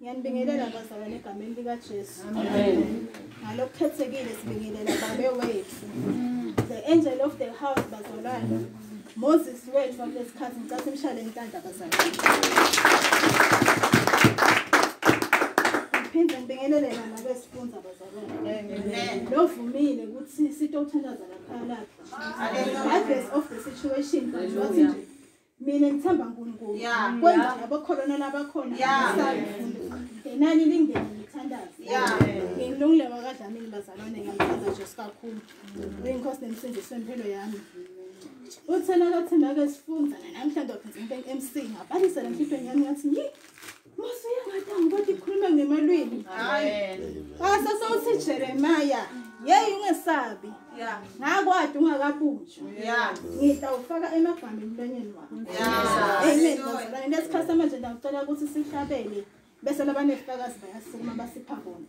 Ngiyanibingelela bazalwane egameni likaJesu. Amen. Ngalokukhethekile sibingelela babe wethu. The angel of the house bazalwane. Moses wethu wakulesikhathi ngicela simshale inhlanhla bazalwane. Ngiphinde ngibingelele nabesifunza bazalwane. Amen. Lovumile ukuthi sitothandaza laphana. Regardless of the situation, wathi nje mina ngithemba uNkulunkulu. Yeah. Kwenza abakholona labakhona Yeah. abasayifunda. Ngenani lingene ngithandaze. Yeah. Ngilungile wakadlamini bazalwane ngiyamthanda Jesu kakhulu. Uyinkosi nemsindisi wempilo yami. Uthena kathemba ke sifunda namhlanje ngizimpe emsini. Ngabalisela enhlizweni yami ngathi ngi Khuluma ngemalwini. Amen. Basa sawuthi Jeremiah yeyi ungesabi ngakwadi ungakabunjwa ngida ufaka emagama emlonyeni wakho amen bazalwane lesikhathi samanje ndiyacela ukuthi sihlabele bese labanefakazi bayasukuma basipha bona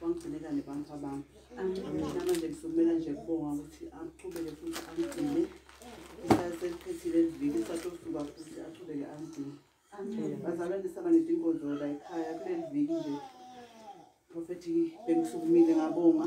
wangigcinekane bantu abami angiamanje ngisumela nje kubonga ukuthi aqhubeke futhi angigcine isasephethile liviki satosuka futhi aqhubeke angigcine bazalwane saba nezinkonzo la ekhaya kuleli viki nje prophethi bengisukumile ngabonga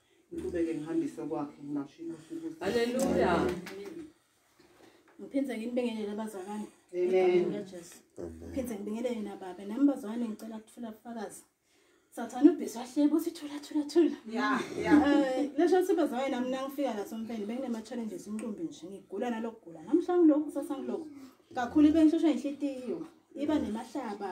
ngiqhubeke ngihambise kwakhe ngingasho inkosi ukuthi haleluya ngiphinde nginibingelele abazalwane amen jesu phinde ngibingelele nababa nami bazalwane ngicela kuthola ubufakazi sathane ubhizi wahleba uthi thula thula thula eh, lesho ukuthi bazalwane nami nangifika la somfeni benginema-challenges inqumbi nje ngigula nalokugula namhla ngilokhu kusasa ngilokhu kakhulu ibe ngihlushwa inhlitiyo iba nemahlaba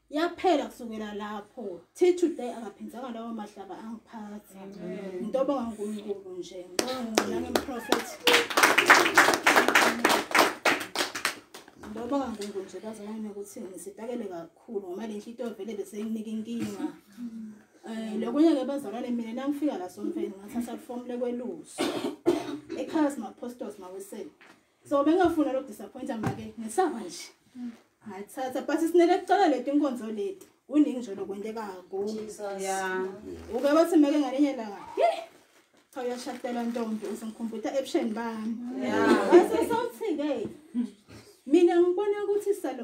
yaphela kusukela lapho thi today akaphindanga lawo mahlaba angiphathi into obonga unkulunkulu nje ngicela ngemprofet into obonga unkulunkulu nje bazalane ukuthi ngisipakele kakhulu ngoba le nhlito vele besenginika inkinga um lokunye-ke bazalwane mina nangifika la somfeni ngathatha lifomu lekweluso ekhaya simaphostoli mawiseni so bengafuna lo disappointer make ngisaba nje hayi thatha but sinele kucela leti inkonzo leti kuningi nje lokwenteka ku yeah uke bathi make ngalinye langa cha uyashadela ntombi usingikhumbuta ebusheni bami yeah so so thike mina ngibona ukuthi salo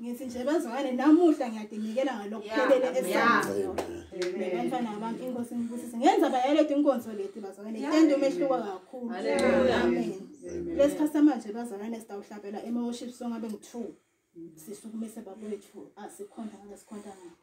ngithi nje bazwane namuhla ngiyadinikela ngalokhu phelele esanzima bantwana bami inkosi ngibusise ngenza bayaleti inkonzo leti bazwane itende umehluko kakhulu amen lesi khathi samanje bazalwane sitawuhlabela ema-worship song abe ngi-two sisukumise babowethu asikhonda ngalesikhontangakho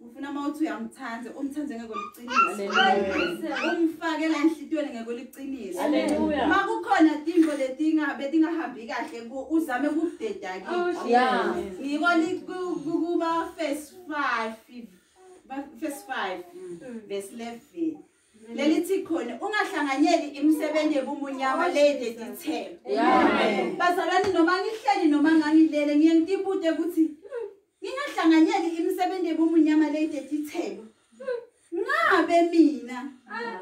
ufuna uma uthi uyamthanda umthande ngeke uliqinise umfake la enhlitiyweni ngeke uliqinise uma kukhona tinto betingahambi kahle uzame kukudeda kingiko oh, kuba first five first five mm. verse eleven lelithi khona ungahlanganyeli imisebenzi yebumunyama oh, lede dithelo bazalwane noma ngihleli noma ngangilele ngiye ngitibude ukuthi Ningahlanganyeli imisebenzi ebumunyama le idethithelo. Ngabe mina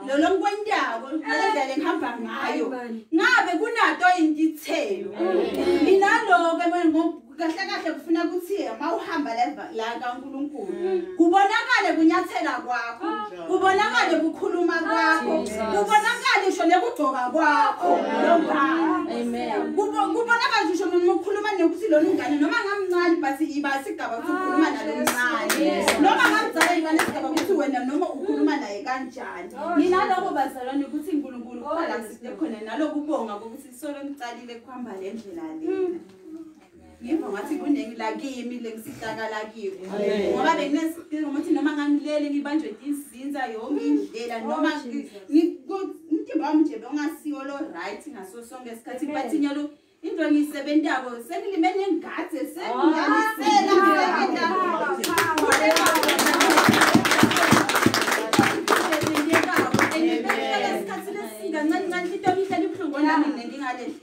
lo lonkwentako ngalendlela engihamba ngayo. Ngabe kunato indithelo. Mina lo ke kahle kahle kufuna ukuthi uma uhamba la kaNkulunkulu kubonakale kunyathela kwakho. kubonakale kukhuluma kwakho kubonakale ngisho nekugcoka kwakho kubonakale ngisho noma ukhuluma nokuthi lona ungane noma ngamncane but iba sigaba ukuthi ukhuluma nalo mncane noma ngamzala iba nesigaba ukuthi wena noma ukhuluma naye kanjani ninaloko bazalwane ukuthi nkulunkulu kukhona la side khona nalokubonga kokuthi solo niqalile kuhamba le ndlela lena ngemva ngathi kuningi lakimi lengisihlakala kiko ngoba benginesidingo ukuthi noma ngangilele ngibanjwe izinza yonke indlela noma umtimba wami nje bongasiwo lo right ngaso sonke isikhathi but nyalo into engiyisebentako sengilime nengathi sengingalisela kancane kancane into engihlala ibuhlungu nami nendingalehli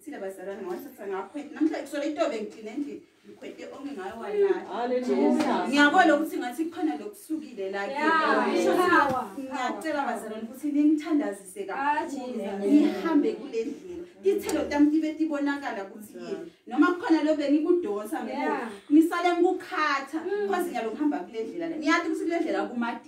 Sile bazalwane ngawathatha ngakhwethe namhlanje kusola itobe ngigcine endlini ngikhwete onke ngayo walala ngiyabona ukuthi ngathi kukhona lokusukile la ngiyacela bazalwane ukuthi ningithandazise kakhulu ah, ngihambe kule ndlela ithelo tam ibe tibonakala ukuthi yini noma kukhona lo bengikudonsa ngisale ngikukhatha mm. cause ngiyalokuhamba kule ndlela le ngiyathi ukuthi kule ndlela kumadi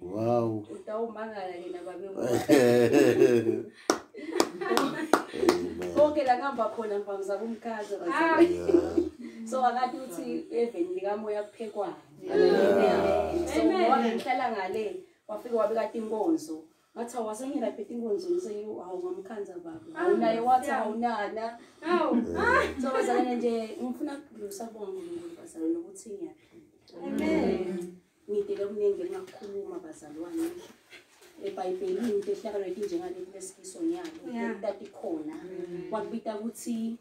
Wow. Utawumangala yena babe. Konke la ngihamba khona ngivamza kumkhaza. Ah. So akathi uthi even likamoya kuphekwa. So ngoba ngihlala ngale wafike wabe kade inkonzo. Ngathi awasengena phethe inkonzo ngise you awu ngamkhanza baba. Ah, Awunaye wathi awunana. Awu. Ah. So bazalana nje ngifuna ukudlusa kubonga uNkulunkulu bazalana ukuthi ngiyaphila. Amen. Ngidele okuningi engakukhuluma bazalwane. EBhayibhelini into ehlakalo ekinjengale kulesikiso nyalo. Kutati khona. Mm. Wakubita ukuthi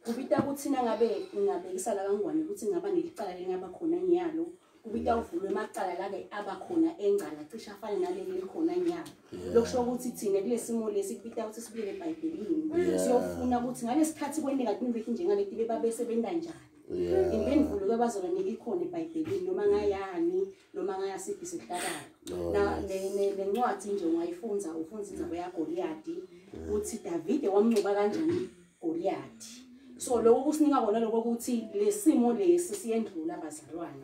kubita ukuthi nangabe ngingabekisa la kangwane ukuthi ngaba nelicala lengaba khona nyalo. Kubita uvulwe amacala la ke aba khona engcala cisha afana naleli likhona nyalo. Lokusho ukuthi thina kulesimo lesi kubita ukuthi sibuyele eBhayibhelini. Siyofuna ukuthi ngalesikhathi kwendeka kunike kinjengale tibe babe sebenza njani. Yeah. Impendulo kabazola ni ikhona eBhayibhelini noma ngayani noma ngayasiphi sihlakala. Oh, Na ne nencwadi nje ungayifunza ufunza indaba ya Goliath uthi David wamnqoba kanjani Goliath. So lokho kusinika kona lokho ukuthi lesimo lesi siyendlula bazalwane.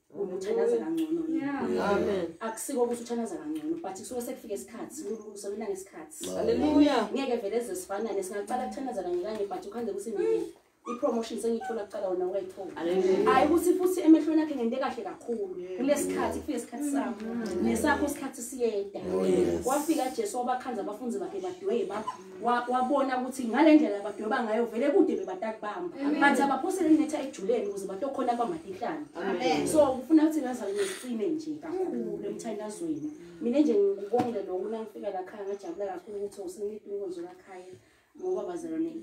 uthanaza kangcono amen akusiko ukuthi uthanaza kangcono but kusuke sekufika isikhathi ulungisa wena ngesikhathi haleluya ngeke vele eze sifanane singaqala kuthanaza kanye kanye but ukhande ukuthi mina i-promotion sengiyithola kuqala wona wayithola hhayi ukuthi futhi emehlweni akhe ngente kahle kakhulu kulesikhathi kufike isikhathi sakho nesakho isikhathi siyeda oh, wafika jesu wabakhanza abafundi bakhe badweba wabona ukuthi ngale ndlela badweba ngayo vele kude bebatakubamba but abaphosele netha ejuleni ukuze batokhona kwamadihlane so kufuna ukuthi ngazali nesicine nje kakhulu emthandazweni mina nje ngikubongile loku nangifika lakhaya ngajabula kakhulu ukuthi usengithi inkonzo lakhaya ngoba bazalwane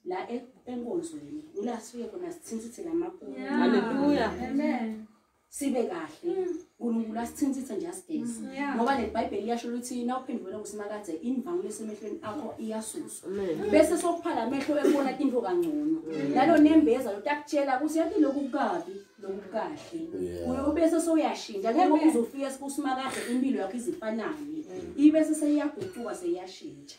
la e-, enkonzweni ila sifike khona sithinsithi lamakhulu haleluya amen sibe kahle mm. unkulunkulu asithinthithe nje asigezi mm. ngoba nebhayibheli iyasho ukuthi na uphendukela kusimakadze imvangelo esemehlweni akho iyasuswa bese sokuphala amehlo ekubona into kangcono mm. nalo nembeza lotakutshela ukuthi yathi lokhu kukabi lokhu kahle uye ubese sowuyashintsha ngeke uzofika esikusimakadze impilo yakho izifanane ibese seyiyaguquka seyiyashintsha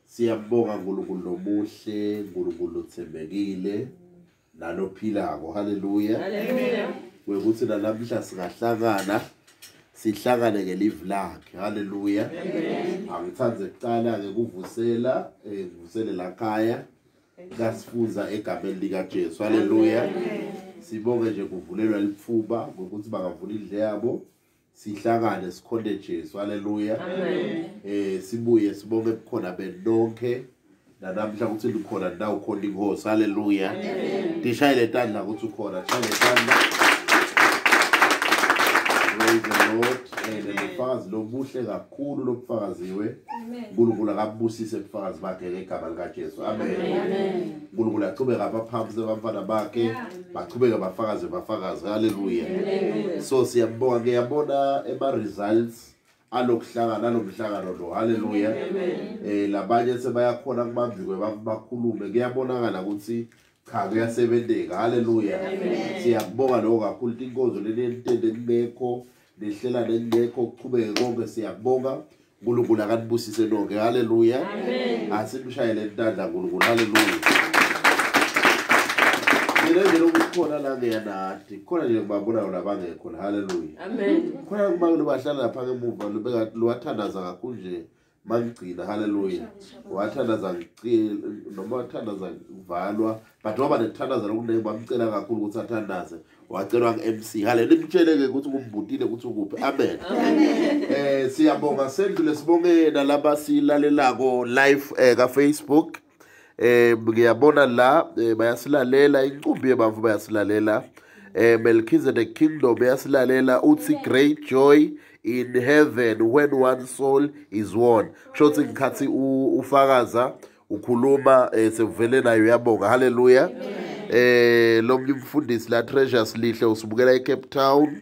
Siyabonga uNkulunkulu lomuhle, uNkulunkulu othembekile nalophilako. Haleluya. Haleluya. Wekuthi nalamhla singahlangana sihlangane ngelive lakhe. Haleluya. Angithande kuqala ke kuvusela eh kuvusele la khaya kasifunza egameni lika Jesu. Haleluya. Sibonge nje kuvulelwa lifuba ngokuthi bangavula indle yabo. sihlakane sikhonde Jesu haleluya amen eh sibuye sibonge bukhona benonke nanamhla ukuthi likhona ndawo khona inkosi haleluya amen dishaye letandla ukuthi ukhona dishaye letandla praise the lord and ubufakazi lobuhle kakhulu lobufakaziwe uNkulunkulu akabusise ubufakazi bakhe ngegama likaJesu amen uNkulunkulu achubeka abaphambi sebamfana bakhe baqhubeka bafakaze bafakaze haleluya so siyabonga ke yabona ema results alokuhlangana alomhlangano lo haleluya eh labanye sebayakhona kubambikwe bakhulume kuyabonakala ukuthi cha kuyasebenzeka haleluya siyakubonga lokho kakhulu inkonzo leli elitende kungekho lehlela leli lekho kuqhubeke konke siyakubonga unkulunkulu akanibusise lonke halleluya asikushayele ntanda nkulunkulu halleluya mina nje lokukhona la ngeyanadi khona nje kubabonayo labangekho la halleluya khona kuba lobahlala lapha ngemuva luwathandaza kakhulu nje makugcina haleluya wathandaza noma wathandaza kuvalwa but waba nekuthandaza lokuningi bamcela kakhulu ukuthi athandaze wacelwa ku-m c hale nimtshele-ke ukuthi kumbutile ukuthi ukuphi amen um siyabonga sendlule sibongena laba silalelako live um kafacebook eh ngiyabona la eh, bayasilalela incumbi yebamvu bayasilalela eh Melchizedek Kingdom yasilalela uthi great joy in heaven when one soul is won shothi ngikhathi ufakaza ukhuluma eh, sekuvele nayo yabonga haleluya eh lo mfundisi la treasures lihle usibukela eCape Town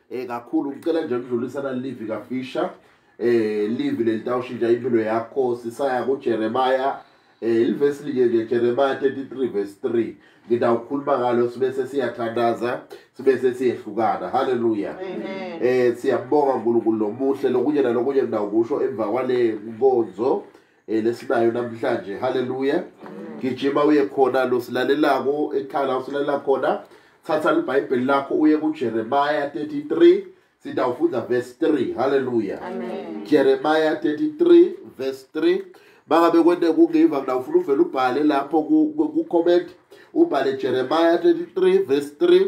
eh kakhulu ngicela nje ukudlulisa na live ka Fisher eh live lelitawushintsha impilo yakho sisaya ku Jeremiah eh ilivesi linye nje Jeremiah 33 verse 3 ngidawukhuluma ngalo sibe sesiyathandaza sibe sesiyehlukana haleluya amen eh siyabonga uNkulunkulu lomuhle lokunye nalokunye ngidawukusho emva kwale nkonzo eh lesinayo namhlanje haleluya gijima uye khona lo silalelako ekhala usilalela khona thatha libhayibheli lakho uye kuJeremiah 33 sitawufunda verse 3 haleluya amen Jeremiah 33 verse 3 bangabe kwente kungiva mina ufuna uvela ubhale lapho ku comment ubhale Jeremiah 33 verse 3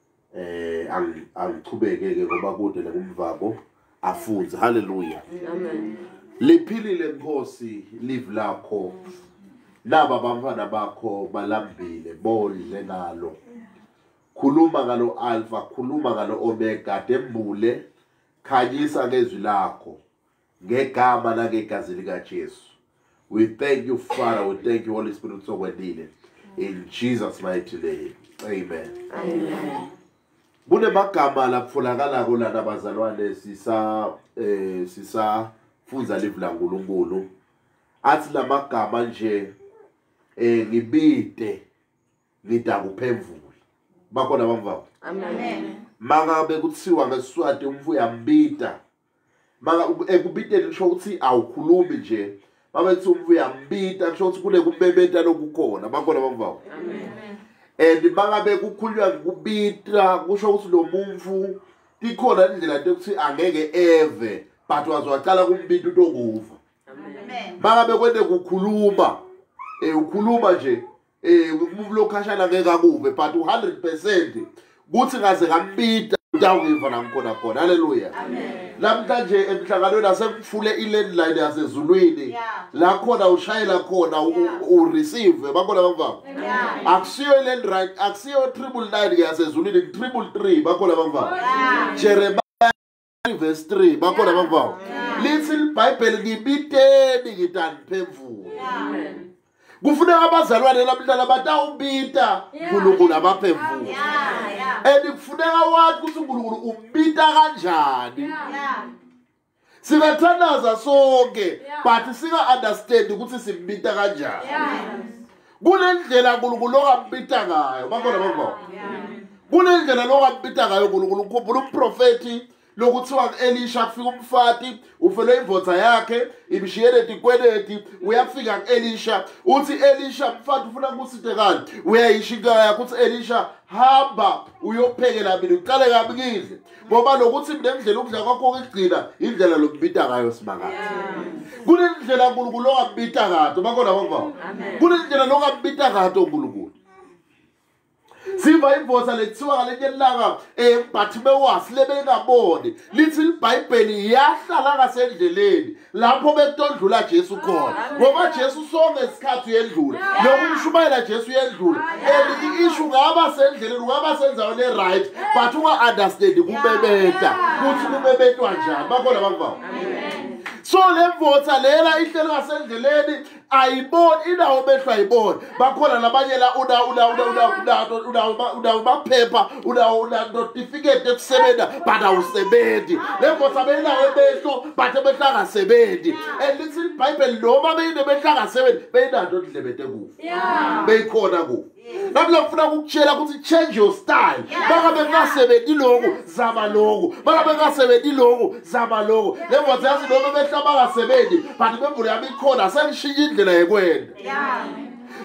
eh alichubeke ke ngoba kude nekumvako afunze haleluya amen liphilile nkosi live lakho laba bantwana bakho balambile bondle ngalo khuluma ngalo alpha khuluma ngalo omega dembule khanyisa ngezwi lakho ngegama nangegazi likajesu we thank you father we thank you holy spirit sokwendile in jesus mighty name amen amen kunemagama laphulakalako lana bazalwane sisa eh sisafunza live la nkulunkulu athi lamagama nje eh ngibide ngida kuphemvula bakhona bamvako amen mangabe kuthiwa ngesiswati umfo uyambida maka ekubiteni kusho ukuthi awukhulumi nje babethi umuntu uyambita kusho ukuthi kunekubebeta lokukhona bakhona bakuvawo and bangabe kukhulunywa ngikubita kusho ukuthi lo muntu ikhona indlela yokuthi angeke eve but wazwacala kumbita utokuva bangabe kwende kukhuluma um ukhuluma nje Eh umuntu lokhashana ngeke akube but u100% kuthi kaze ngambida utawuyiva la ngikhona khona haleluya namhlanje emhlanganweni asekufule i-landline yasezulwini la khona ushayela khona ureceive bakhona bangibaba akusiyo i-landline akusiyo triple nine yasezulwini triple three bakhona bangibaba jeremiya verse 3 bakhona abavawo lithi libhayibheli ngibiteni ngitaniphemvula kufuneka abazalwane labudala batawubita nkulunkulu abaphemvula and kufuneka wathi ukuthi unkulunkulu ubita kanjani singathandaza sonke but singa-understandi ukuthi simbita kanjani kunendlela unkulunkulu okabita ngayo bakhona bavo kunendlela lokabita ngayo unkulunkulu ukhumbula uprofethi lokuthiwa ku-elisha kufika umfati ufelwe imvodza yakhe imshiyele tikweleti uyafika ku-elisha uthi elisha mfati ufuna kusite kani uyayisho inkala yakho uthi elisha hamba uyophekela mina uqale kabi kidle ngoba lokuthi mina ndlela ukudla kwakho okugcina indlela lokubita ngayo simakade kunendlela uNkulunkulu ongabita kade bakhona bavao kunendlela lokungabita kade uNkulunkulu siva imboza lethiwa ngalenye lilanga um eh, bathi bewasi lebengaboni lithi libhayibheli yahlala ngasendleleni lapho bekutodlula Jesu khona ngoba Jesu sonke isikhathi uyendlula nokumshumayela Jesu uyendlula and ishu ngaba sendleleni ungaba senzaweni eright but unga-understandi kubebeta kuthi kubebetwa njani bakhona abantu bawo so le mvotha lela ihleli ngasendleleni ayiboni inawo mehlo ayiboni bakhona labanye la unawo maphepha unawo notifiketi ekusebenza but awusebenzi le nkosi abeyinawo emehlo but emehlo angasebenzi and lithi ibhayibheli noma beyinemehlo angasebenzi beyinanto ndlebete kufa beyikhona kufa nami lafuna ukukutshela ukuthi change your style baka bengasebenzi lokhu zama lokhu baka bengasebenzi lokhu zama lokhu le ngothi yazi noma behla bangasebenzi but bembule yami ikhona sengishintshe indlela yekwenda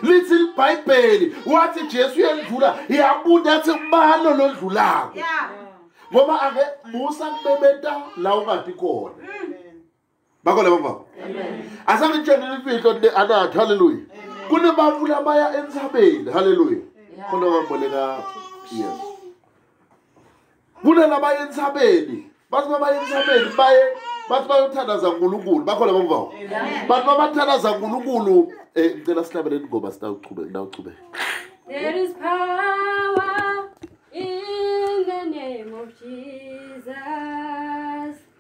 lithi libhayibheli wathi jesu uyendlula yabuda athi ubani olondlulako ngoba ake musa kubebeta la ungadi khona mm. bakho labo baba asake ngitshele imfihlo anathi haleluya kunebantu labaya entsabeni haleluya khona wamboleka yes kunalabaya entsabeni bathi babaya entsabeni baye bathi bayothandaza nkulunkulu bakho labo baba bathi babathandaza nkulunkulu um eh, ngicela sihlabeleni ngoba sitawuchubeke ndawuchubeke There is power in the name of Jesus.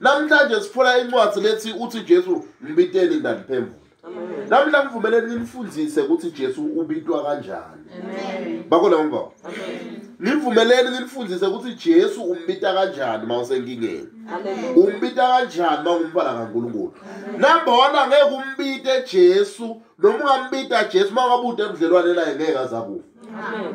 Namhlanje sifuna incwadi lethi uthi Jesu mbiteni ndandiphemvula. Namhla ngivumeleni nginifundise ukuthi Jesu ubitwa kanjani. Amen. Bakona umva. Amen. Nivumeleni nilifundise ukuthi Jesu umbita kanjani uma usenkingeni. Umbita kanjani uma ungumfana kaNkulunkulu. Number 1 angeke umbite Jesu noma ungambita Jesu uma wabude ebudlelwane naye ngeke azakufa. Amen.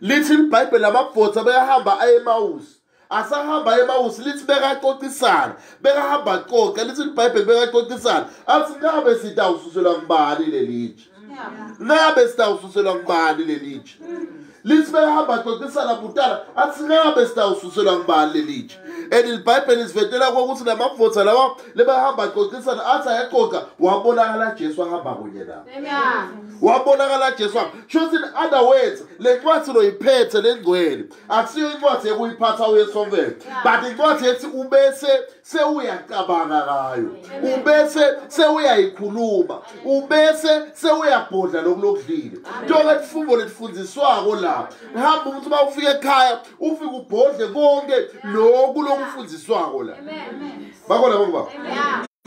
lithi ibhayibheli amabhotha beyahamba aye emawusi asahamba emawusi lithi bekaxoxisana bekahamba xoxa lithi ibhayibheli bekaxoxisana athi ngabe sitawususelwa kubani lelitshe ngabe sitawususelwa kubani lelitshe lithi bekahamba xoxisana butala athi ngabe sitawususelwa kubani lelitshe and libhayibheli sivetela kokuthi namavotha lawa lebahamba xoxisana athi ayaxoxa wabonakala jesu ahamba kunye nabo wabonakala jesu Just in other words, le ncwadi uloyiphethe lengcwele. Akusiyo incwadi ekuyiphatha uyesovele. But incwadi ethi ubese sewuyacabanga ngayo. Ubese sewuyayikhuluma. Ubese sewuyabhodla lokulokudlile. Njengoba lifungo letfundiswako la. Hamba ukuthi uma ufika ekhaya ufike ubhodle konke lokhu lokufundiswako la. Bako labo baba.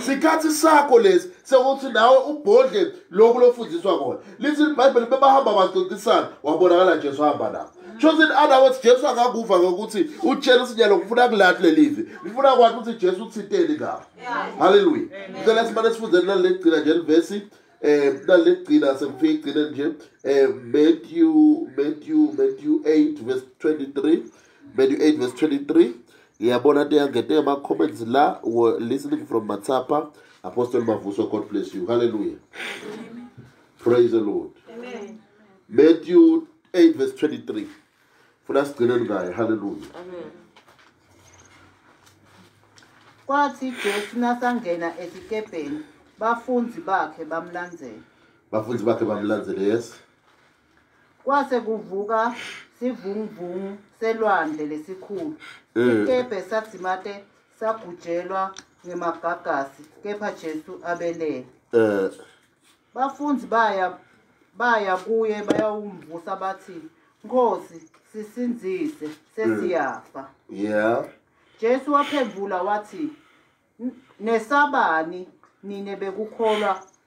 Sikhathi sakho lesi sekuthi nawe ubhodle lokhu lokufundiswa kona. lithi libhayibheli bebahamba baxoxisana wabonakala jesu hamba nabo shothi in other words jesu akakuva ngokuthi utshela isinyalo ngifuna kulathi leli vi ngifuna kwathi ukuthi jesu uthinteni ngabo halleluya ngicela simane sifundeni lali legcina nje livesi um eh, lali legcina sengifike igcine nje um eh, matthew matthew matthew 8 verse 23 matthew 8 verse 23 ngiyabona teyangete ama-comments la were listening from matsapa apostle mavuso god bless you halleluya praise the lord Amen. matthew 8 verse 23 funa sigcineni ngayo halleluya kwathi jesu nasangena esikebheni bafunzi bakhe bamlandzela bafunzi bakhe bamlandzele yes kwase kuvuka sivunguvungu selwandle lesikhulu eh. ikebhe sadzimate sagujelwa ngemagagasi kepha jesu abelele eh. bafundi baya baya kuye bayawumvusa bathi nkosi sisinzise sesiyafa mm. yeah jesu waphendula wathi nesabani nine bekukholwa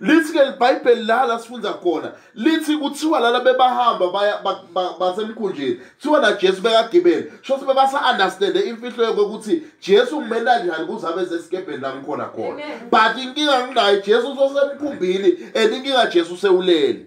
lithi ke libhayibheli la la sifunda khona lithi kuthiwa lala bebahamba basemkhunjini kuthiwa najesu bekagibele sho ukuthi bebasa-understande imfihlo yokokuthi jesu ngimela njani kuze abe sesikebheni la ngikhona khona but inkinga nginayo jesu usosemkhumbini and inkinga jesu sewulele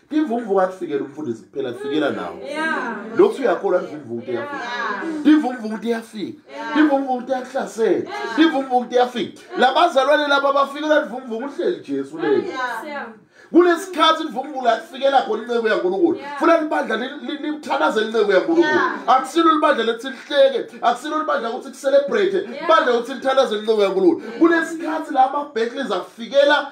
imvumvu kakufikela umfundisi kuphela kufikela nawo lokhu uyakholwa imvumvu ukuthi yafika imvumvu ukuthi yafika imvumvu ukuthi yakuhlasela imvumvu ukuthi yafika labazalwane laba bafikela imvumvu uhleli Jesu leli kulesikhathi imvumbulo yakufikela khona inceku yaNkulunkulu funa libandla limthanazela inceku yaNkulunkulu akusilo libandla lethi lihleke akusilo libandla ukuthi kucelebrate ibandla ukuthi lithanazela inceku yaNkulunkulu kulesikhathi la ama-battles afikela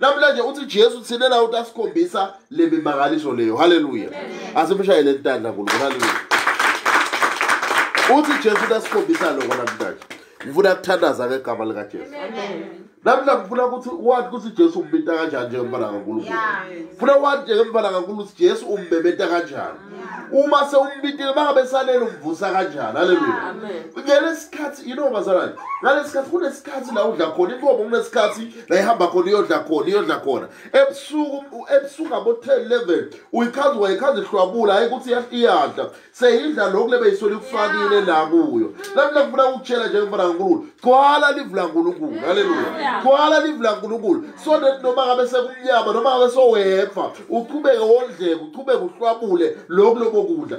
namhlanje uthi jesu thina nawo ukuthi asikhombisa le mimangaliso leyo halleluya asimshayele entanda nkulunkulu halleluya uthi jesu ukuthi asikhombisa loko namhlanje ngifuna kuthandaza ngegama likajesu namhla ngifuna ukuthi wathi ukuthi jesu umbinta kanjani njengempala kankulunkulu funa wathi njengempala kankulunkulu ukuthi jesu umbebeta kanjani uma sewumbitile bangabe salele umvusa kanjani aleluya ngalesikhathi you know bazalwane ngalesikhathi kunesikhathi la udla khona inkomo kunesikhathi la ihamba khona iyodla khona iyodla khona ebusuku ebusuku ngabo-ten eleven uyichaza wayichaza ihlwabula hhayi ukuthi iyadla seyidla lokhu lebe yisole ikufakile la kuyo lami lakufuna ukutshela njengomfana kankulunkulu gcwala livu lankulunkulu haleluya gcwala livu lankulunkulu so that noma ngabe sekumnyama noma ngabe sowefa uqhubeke wondleke uqhubeke uhlwabule lokhu lobo kudla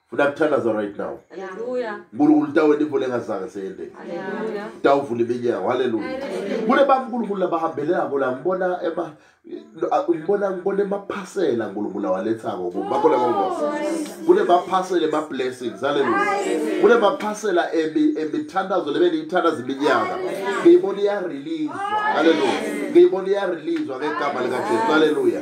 funa kuthandaza right now nkulunkulu utawenta imvula engazange seyendeni tawuvula iminyango halleluya kule bankulunkulu labahambelelako la ngibona ema ngibona ngibona emaphasela nkulunkulu awalethako kubo bakhona kongosa kule maphasela ema-blessings halleluya kule maphasela emithandazo lebe niyithandaza iminyaka ngiyibona iyarelizwa halleluya ngiyibona iyarelizwa ngegama likajesu halleluya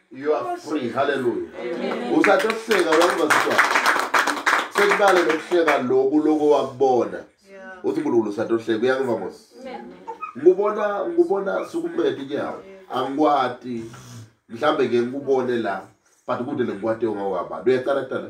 You are free. Hallelujah. Usathi ukuhleka wayibaziswa. Sekubale lokuhleka lokhu lokho wakubona. Uthi uNkulunkulu usathi ukuhleka uyakuva mos. Ngubona ngubona sukumedi nyawo. Angikwati. Mhlambe ke ngikubone la. But kude lengikwati ongawaba. Uyaqala kuqala.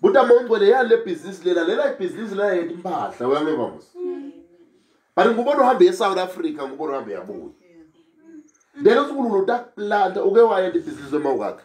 buta mongcwele yani le bhizinisi lela lela ibhizinisi lela yethu impahla uyangiva mos but ngubona uhambe esouth africa ngubona uhambe yabuya then usukulula utakulanda uke wayenda ibhizinisi wema kwakhe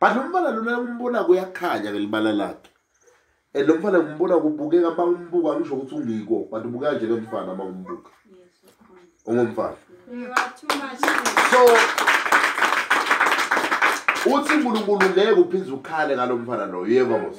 but lo mfana lona umbona kuyakhanya ngelibala lakhe and lo mfana ngimbona kubukeka uma umbuka ngisho ukuthi ungiko but ubukeka nje kemfana uma umbuka ungumfana so uthi unkulunkulu ngeke uphinde ukhale ngalo mfana loyo yebo mos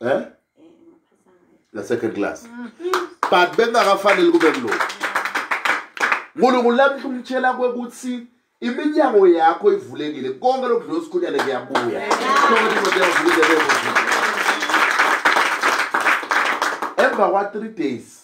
eh na second class but bengakafanele kube kuloko uNkulunkulu lamhla umtshela kwekuthi iminyango yakho ivulekile konke lokudlula usikhunyane kuyabuya emva kwa-three days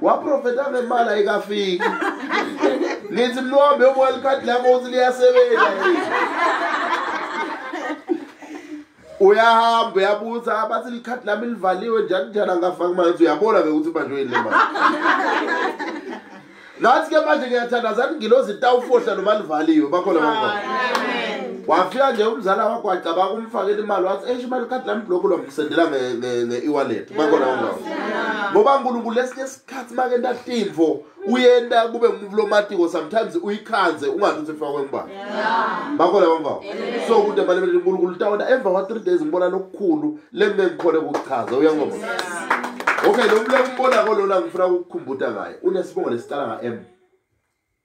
waprofeta ngemali ayikafiki ngithi mlombe uboya likhadi lakho ukuthi liyasebenza uyahamba uyabuza abathi likhadi lami livaliwe njani njani angafaki manje uyabona ke ukuthi manje uyini le mali ngathi ke manje ngiyathandazani ngilozi tawufohla noma livaliwe bakhona bakhona wafika nje umzala wakho wacabanga umfakela imali wathi eish imali ikhadi lami block lo ngisendela nge-e-wallet bakona ungawo ngoba nkulunkulu lesinye isikhathi make ntahlintfo uyenta kube ngumvulomatiko sometimes uyikhanze ungathi ukuthi ifakwe ngubani bakona ungawo so kude balebele nkulunkulu tawona emva kwa-three days ngibona lokukhulu lembe ngikhone kukuchaza uyangoba okay lo mlekumbona kolona ngifuna ukukukhumbuta ngaye unesibongo lesiqala nga-m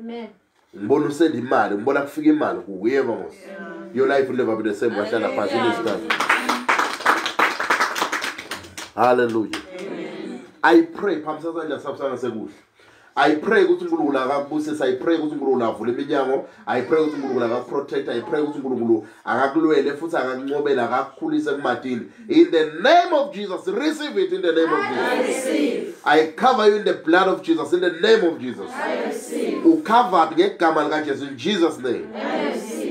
Amen. Ngibona usenda imali, ngibona kufika imali kuye vamos. Your life will never be the same wahlala phansi lesikhathi. Hallelujah. Amen. I pray phambi sasandla sabusana sekuhle. I pray ukuthi uNkulunkulu akakubusise, I pray ukuthi uNkulunkulu avule iminyango, I pray ukuthi uNkulunkulu akakuprotect, I pray ukuthi uNkulunkulu akakulwele futhi akakuncobele akakukhulise kumatini in the name of jesus receive it in the name of jesus i cover you in the blood of jesus in the name of jesus ucovered ngegama likajesu in jesus name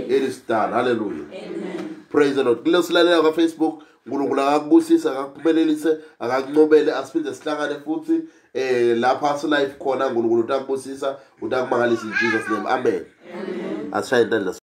it is done hallelujah praise the lord kule silalela kwafacebook unkulunkulu akakubusise akakuphumelelise akakuncobele asiphinde sihlangane futhi um lapha silife khona unkulunkulu utakubusisa utakumangalisa in jesus name amen asishaye intandla